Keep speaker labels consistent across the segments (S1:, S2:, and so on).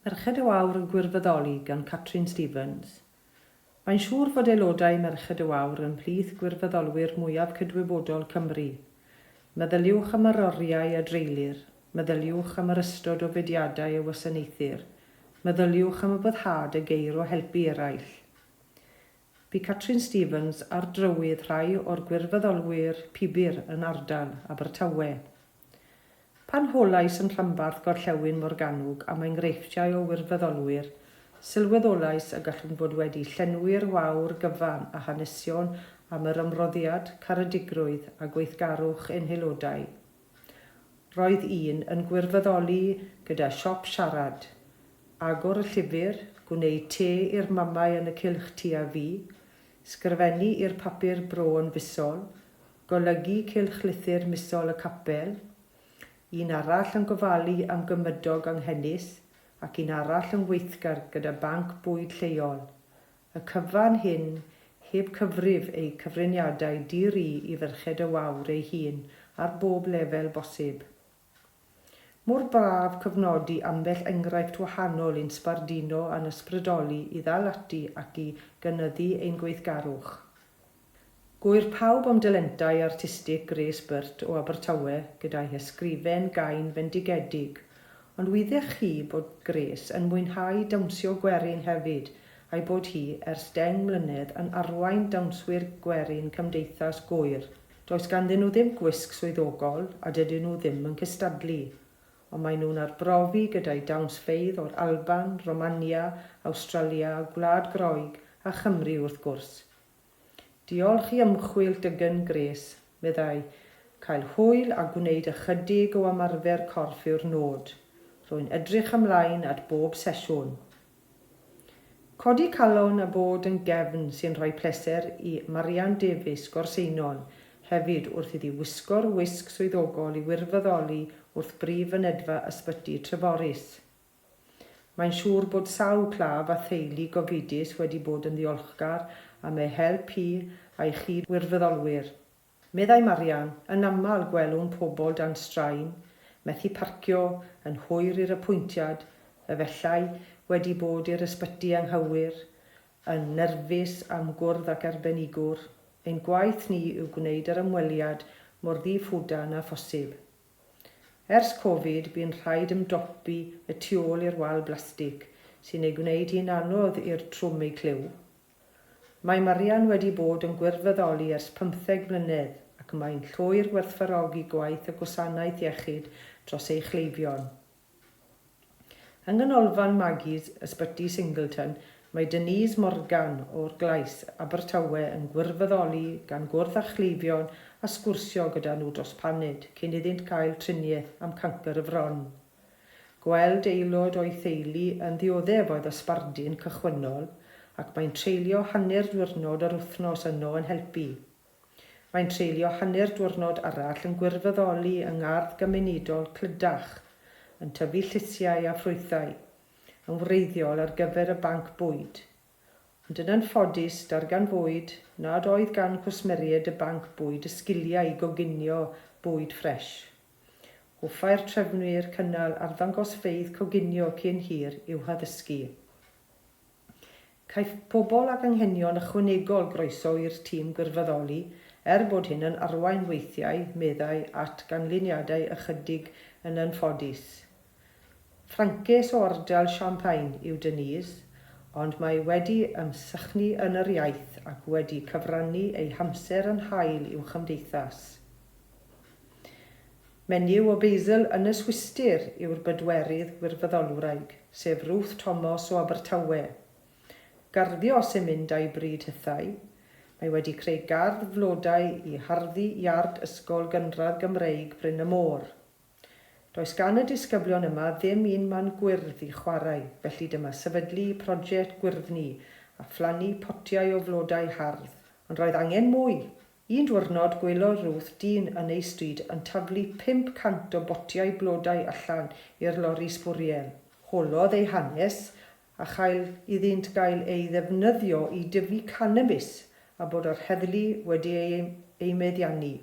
S1: Merched y Wawr yn gwirfoddoli gan Catrin Stevens. Mae'n siŵr fod aelodau Merched y Wawr yn mhlith gwirfoddolwyr mwyaf cydwybodol Cymru. Meddyliwch am yr oriau a dreulir, meddyliwch am yr ystod o fudiadau a wasanaethir, meddyliwch am y boddhad a geir o helpu eraill. Bu Catrin Stevens ar drywydd rhai o'r gwirfoddolwyr pibr yn ardal Abertawe. Pan holais yn rhanbarth Gorllewin Morgannwg am enghreifftiau o wirfoddolwyr, sylweddolais y gallwn fod wedi llenwi'r wawr gyfan â hanesion am yr ymroddiad, caredigrwydd a gweithgarwch ein haelodau. Roedd un yn gwirfoddoli gyda siop siarad, agor y llyfr, gwneud te i'r mamau yn y cylch tua fi, sgrifennu i'r papur bro yn fisol, Golygu cylchlythyr misol y capel, un arall yn gofalu am gymydog anghenus ac un arall yn weithgar gyda banc bwyd lleol. Y cyfan hyn heb cyfrif eu cyfriniadau di-ri i ferched y wawr ei hun ar bob lefel bosib. Mor braf cofnodi ambell enghraifft wahanol i'n sbarduno a'n ysbrydoli i ddal ati ac i gynyddu ein gweithgarwch. Gŵyr pawb am dalentau artistig Grace Burt o Abertawe gyda'i hysgrifen gain fendigedig, ond wydde'ch chi bod Grace yn mwynhau dawnsio gwerin hefyd a'i bod hi ers deng mlynedd yn arwain Dawnswyr Gwerin Cymdeithas Gŵyr Does ganddyn nhw ddim gwisg swyddogol a dydyn nhw ddim yn cystadlu, ond maen nhw'n arbrofi gyda'u dawnsfeydd o'r Alban, Romania, Awstralia, Gwlad Groeg a Chymru wrth gwrs. Diolch i ymchwil Dygen Grace, meddai, Cael hwyl a gwneud ychydig o ymarfer corff yw'r nod. Rwy'n edrych ymlaen at bob sesiwn. Codi calon a bod yn gefn sy'n rhoi pleser i Marian Davies, Gorseinon, hefyd wrth iddi wisgo'r wisg swyddogol i wirfoddoli wrth brif fynedfa Ysbyty Treforys. Mae'n siŵr bod sawl claf a theulu gofidus wedi bod yn ddiolchgar am ei help hi a'i chyd-wirfoddolwyr. Meddai Marian, Yn aml gwelwn pobl dan straen, methu parcio, yn hwyr i'r apwyntiad, efellai wedi bod i'r ysbyty anghywir, yn nyrfus am gwrdd ac arbenigwr. Ein gwaith ni yw gwneud yr ymweliad mor ddi-ffwdan â phosib. Ers Covid, bu'n rhaid ymdopi y tu ôl i'r wal blastig, sy'n ei gwneud hi'n anodd i'r trwm eu clyw. Mae Marian wedi bod yn gwirfyddoli ers pymtheg mlynedd ac mae'n llwyr gwerthfawrogi gwaith y Gwasanaeth Iechyd dros ei chleifion. Yng Nghanolfan Maggie's, Ysbyty Singleton, mae Denise Morgan o'r Glais, Abertawe yn gwirfyddoli gan gwrdd â chleifion a sgwrsio gyda nhw dros paned cyn iddynt gael triniaeth am cancr y fron. Gweld aelod o'i theulu yn ddioddef oedd y sbardun cychwynnol ac mae'n treulio hanner diwrnod yr wythnos yno yn helpu. Mae'n treulio hanner diwrnod arall yn gwirfyddoli yng ngardd gymunedol Clydach, yn tyfu llysiau a ffrwythau, yn wreiddiol ar gyfer y banc bwyd. ond yn anffodus darganfuwyd nad oedd gan gwsmeriaid y banc bwyd y sgiliau i goginio bwyd ffres. Hoffai'r trefnwyr cynnal arddangosfeydd coginio cyn hir i'w haddysgu. Caiff pobl ag anghenion ychwanegol groeso i'r tîm gwirfoddoli, er bod hyn yn arwain weithiau, meddai, at ganlyniadau ychydig yn anffodus. Ffrancês o ardal Champagne yw Denise, ond mae wedi ymsychnu yn yr iaith ac wedi cyfrannu ei hamser yn hael i'w chymdeithas. Menyw o Basil, Ynys Wystyr yw'r bedwerydd gwirfoddolwraig, sef Ruth Tomos o Abertawe. Garddio sy'n mynd â'i bryd hithau. Mae wedi creu gardd flodau i harddu iard Ysgol Gynradd Gymreig Bryn y Môr. Does gan y disgyblion yma ddim un man gwyrdd i chwarae, felly dyma sefydlu project gwyrddni a phlannu potiau o flodau hardd. Ond roedd angen mwy! Un diwrnod gwelodd Ruth dyn yn ei stryd yn taflu 500 o botiau blodau allan i'r lori sbwriel. Holodd ei hanes, a chael iddynt gael eu ddefnyddio i dyfu canabis a bod yr heddlu wedi eu meddiannu.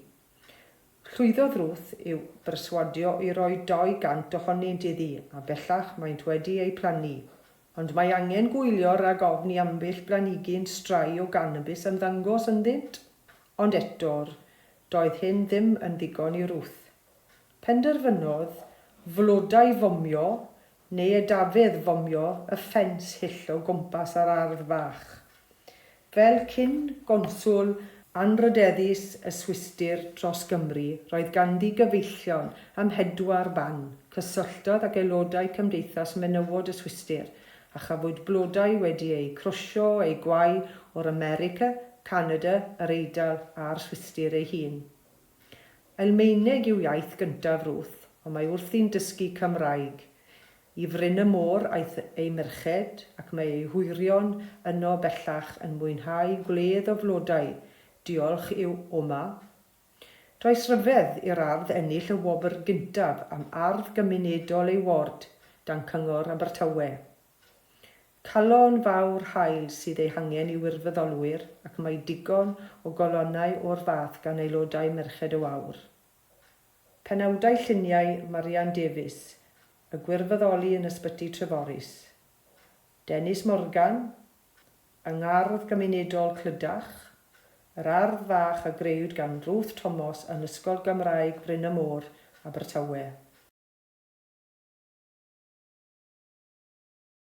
S1: Llwyddodd Ruth i'w berswadio i roi 200 ohonynt iddi a bellach maent wedi eu plannu. Ond mae angen gwylio rhag ofn i ambell blanigyn strae o ganabis ymddangos ynddynt. Ond eto'r doedd hyn ddim yn ddigon i Ruth. Penderfynodd flodau fomio neu y Dafydd fomio y ffens hyll o gwmpas yr ardd fach. Fel cyn gonswl anrhydeddus y Swistir dros Gymru, roedd ganddi gyfeillion ym mhedwar ban. Cysylltodd ag aelodau Cymdeithas Menywod y Swistir, a chafwyd blodau wedi eu crwsio eu gwau o'r America, Canada, yr Eidal a'r Swistir ei hun. Almaeneg yw iaith gyntaf Ruth, ond mae wrthi'n dysgu Cymraeg. I Fryn y Môr aeth ei merched, ac mae ei hwyrion yno bellach yn mwynhau gwledd o flodau, diolch i'w oma. Does ryfedd i'r ardd ennill y wobr gyntaf am ardd gymunedol ei ward dan Cyngor Abertawe. Calon fawr hael sydd ei hangen i wirfoddolwyr ac mae digon o galonnau o'r fath gan aelodau Merched y Wawr. Penawdau lluniau Marian Davies, y gwirfoddoli yn Ysbyty Treforys. Dennis Morgan, yng Ngardd Gymunedol Clydach, yr ardd fach a grëwyd gan Ruth Tomos yn Ysgol Gymraeg Bryn y Môr, Abertawe.